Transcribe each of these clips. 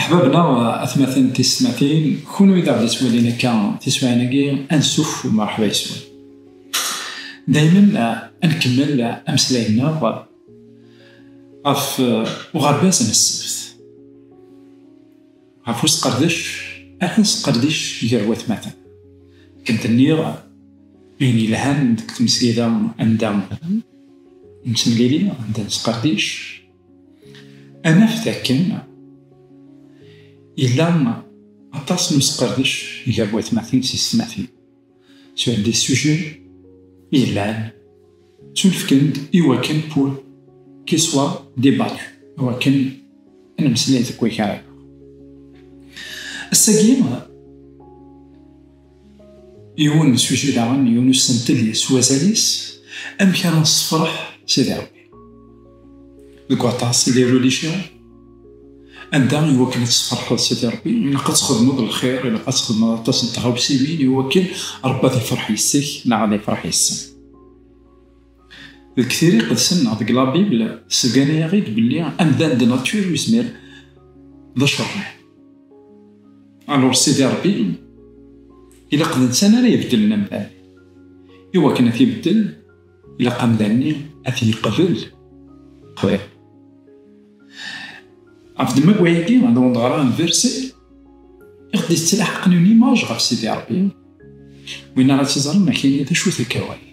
Ahbabna, atmaten tismatin, kunwi d aɣ-d-ittwalin akka tiswaɛin-agi, ansuf u mṛeḥba yes-wen. Daymen ad nkemmel ameslay-nneɣ ɣef uɣerbaz n ssebt, ɣef usqerdec ad nesqerdec gar watmaten. Akken d-nniɣ, ayen yelhan deg tmesgida anda nettemlili, anda nesqerdec, Anaf dakken yella aṭas n usqerdec gar watmaten s yessetmaten. Sur des sujets yellan ttunefken-d i wakken pour qu'il soit débattu, i wakken ad nemmeslay deg wakal. Ass-agi, Yiwen n sujet daɣen, yiwen usentel yes s wazal-is, amek ara nessefreḥ Sidi Rebbi. Deg waṭas, il est religion, anda i wakken ad tessefreḥeḍ Sidi Rebbi, ilaq ad txedmeḍ lxir, ilaq ad txedmeḍ aṭas n tɣawsiwin i wakken Rebbi ad ifreḥ yes-k neɣ ad ifreḥ yes-sen. Deg tiri iqedsen neɣ deg la Bible, sgan-yaɣ-id belli amdan de nature yezmer d acerreɛ. Alors Sidi Rebbi ilaq d netta ara ibeddlen amdan. I wakken ad t-ibeddel, ilaq amdan-nni ad t-yeqbel. Qbel. Ɣef demma n wayagi, d undeɣra n verset i ɣ-d-yettlaḥqen une image ɣef Sidi Rebbi, win ara tt-iẓren ad ak-yini d acu-t akka waya.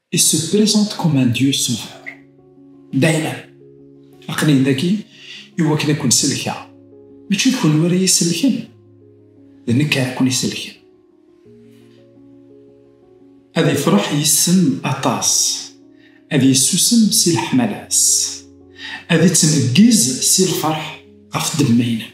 Il se présente comme un dieu sauveur. D'ailleurs, aql-i dagi i wakken ad ken-sellkeɣ. Mačči d kenwi ara yi-sellken, d nekk ara ken-isellken. Ad ifreḥ yis-sen aṭas, ad yessusem si leḥmala-s, ad ittneggiz si lferḥ ɣef ddemma-inem.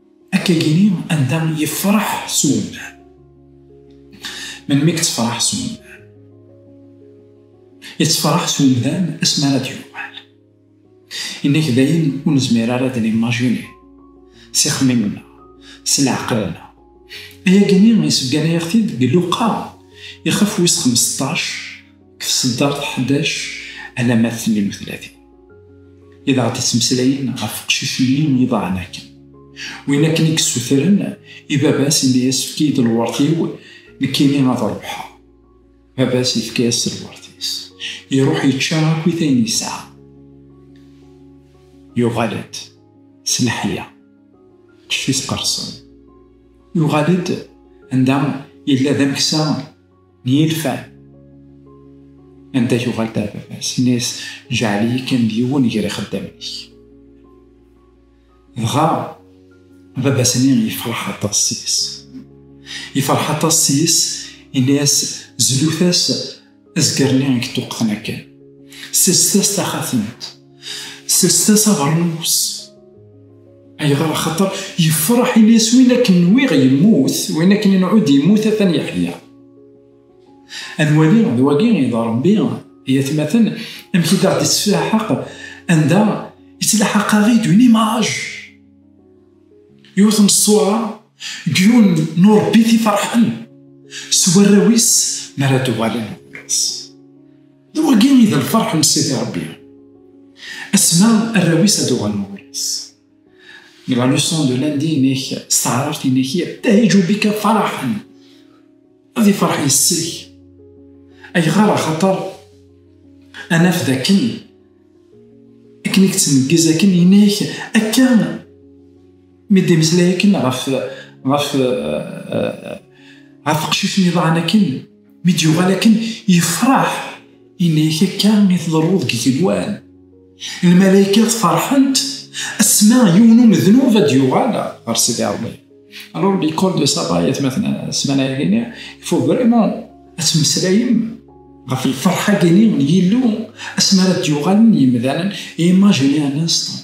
Akka gini anda yefraḥ s umdan. Melmi yettefraḥ s umdan? Yettefraḥ s umdan asmi ara d-yuɣal. Inak dayen ur nezmir ara ad nimajini s ixemmimen-a, s leɛqel-nneɣ. Aya gini yessebgan-aɣ-t-id deg Luqa ixef wis xemseṭṭac, deg tseddart 11 alamma 38 i d aɣ-d-ittmeslayen ɣef uqcic-nni n yiḍan akken. Win akken i yessutren i baba-s imi yessefk-iyi-d lweṛt-iw nekkini ad ruḥeɣ. Baba-s yefka-as lweṛt-is. Iruḥ yečča akkit ayen yesɛa. Yuɣal-d s leḥya. Kif-is qersen. Yuɣal-d anda yella d ameksa n yilfan anda yuɣal d ababat nes jɛel-iyi kan d yiwen gar ixeddamen-ik dɣa ababat-nni yefreḥ aṭas seg-s yefreḥ aṭas seg-s ini-as zlut-as azger-nni i yeṭṭuqten akken sest-as taxatemt Sers-as aɣrnus. Ayɣer? Axaṭer yefreḥ Ilyas win akken nwiɣ yemmut, win akken inɛud yemmut atan yeḥya. Ad nwali d wagi i d Ṛebbi i atmaten, amek i d-aɣ-d-ittlaḥaq anda ittlaḥaq-aɣ-id une image. Yiwet n ṣṣwara, deg yiwen n uṛebbit i ferḥen s warraw-is mi ara d-uɣalen ɣur-s. D wagi i d lferḥ n Sidi Rebbi. Asma arraw-is ad uɣalen ɣur-is. Deg la leçon de lundi-inek s teɛrart-inek yebtahiju bika faraḥen. Ad iferḥ yes-k. Ayɣer axaṭer ad naf d akken akken i yettneggez akken inek akka Mi d-imeslay akken ɣef ɣef ɣef qcic niḍan akken mi d-yuɣal akken yefraḥ ini-ak akka i tḍerru deg igenwan lmalaykat ferḥent asma yiwen umednub ad d-yuɣal ɣer Sidi Rebbi alors l'école de Saba yatmaten ssmana-agini il faut vraiment ad temmeslayem ɣef lferḥ-agini n Yillu asmi ara d-yuɣalen yimdanen imaginer un instant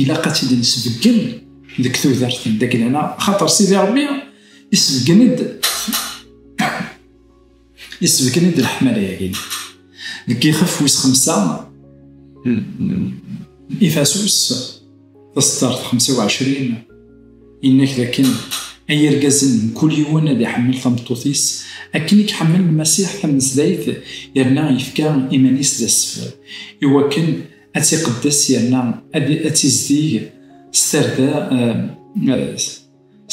ilaq ad tt-id-nesbeggen deg tudert n Daglana xaṭer Sidi Rebbi isbeggen-d isbeggen-d leḥmala-agi deg yixef wis xemsa ifasus taseddart 25 innak dakken ay irgazen mkul yiwen ad iḥemmel tameṭṭut-is akken i iḥemmel Lmasiḥ tamesdayt yerna yefka iman-is d asfel iwakken ad tiqeddes yerna ad tizdig s tarda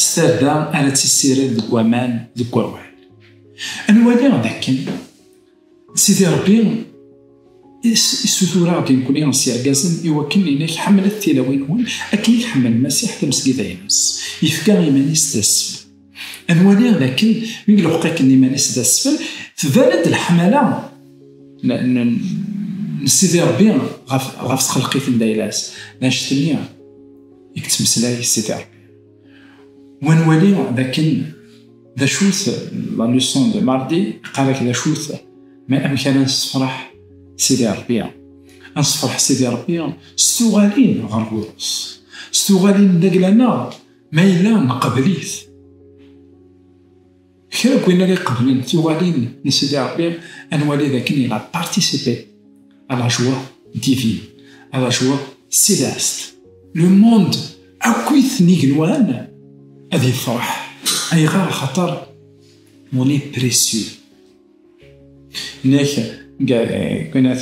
s tarda ara tissired deg waman deg wawal anwali d akken sidi rebbi isutur-aɣ-d nekkni s yergazen i wakken inek ḥemmlet tilawin-nwen akken i tḥemmel Masiḥ tamesgida-ines yefka iman-is d asfel Ad nwali dakken mi iluḥeq-iken iman-is d asfel, tban-d leḥmala n Sidi Rebbi ɣef txelqit n Dayla-s, d anect-nni i yettmeslay Sidi Rebbi. U ad nwali dakken d acu-t la leçon de mardi, iqqar-ak d acu-t ma amek ara nessefreḥ Sidi Rebbi. Ad nessefreḥ Sidi Rebbi s tuɣalin ɣer Burus, s tuɣalin n lagla-nneɣ, Ma yella neqbel-it. Kra n win ara iqeblen tiwalin n Sidi Rebbi, ad nwali d akken il a participé à la joie divine, à la joie céleste. Le monde akk-it n igenwan ad yefreḥ. Ayɣer? Axaṭer on est précieux. Nek, għenat,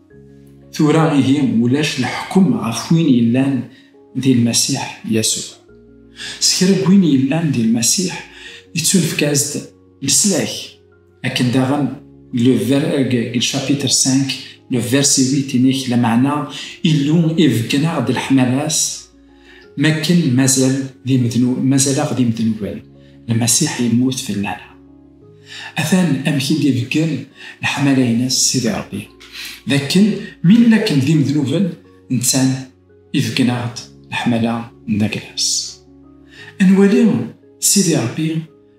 Tura ihi ulac leḥkem ɣef win yellan di Lmasiḥ Yasuɛ. S kra n win yellan di Lmasiḥ, ittunefk-as-d leslak, akken daɣen le ver eg le chapitre 5 le verset 8 inek, lameɛna Illu ibeggneɣ-d leḥmala-s, Makken mazal d imednu, mazal-aɣ d imednuben, Lmasiḥ yemmut fell-aneɣ. Atan amek i d-ibeggen leḥmala-ines Sidi Rebbi, d akken mi nella akken d imednuben, nettan ibeggen-aɣ-d leḥmala n Aglas. Ad nwali Sidi Rebbi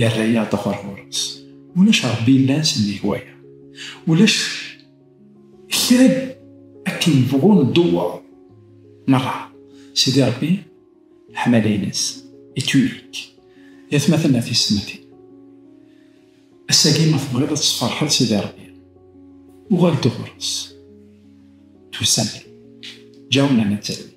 yerra-yaɣ d axur ɣur-s. Ulac Rebbi yellan sennig waya. Ulac kra akken nebɣu ndewwer merra, Sidi Rebbi leḥmala-ines est unique. I atmaten a tismatin, ass-agi ma tebɣiḍ ad tesferḥeḍ Sidi Rebbi, uɣal-d ɣur-s. Tusa-d, ǧǧa-w nerna d talwit.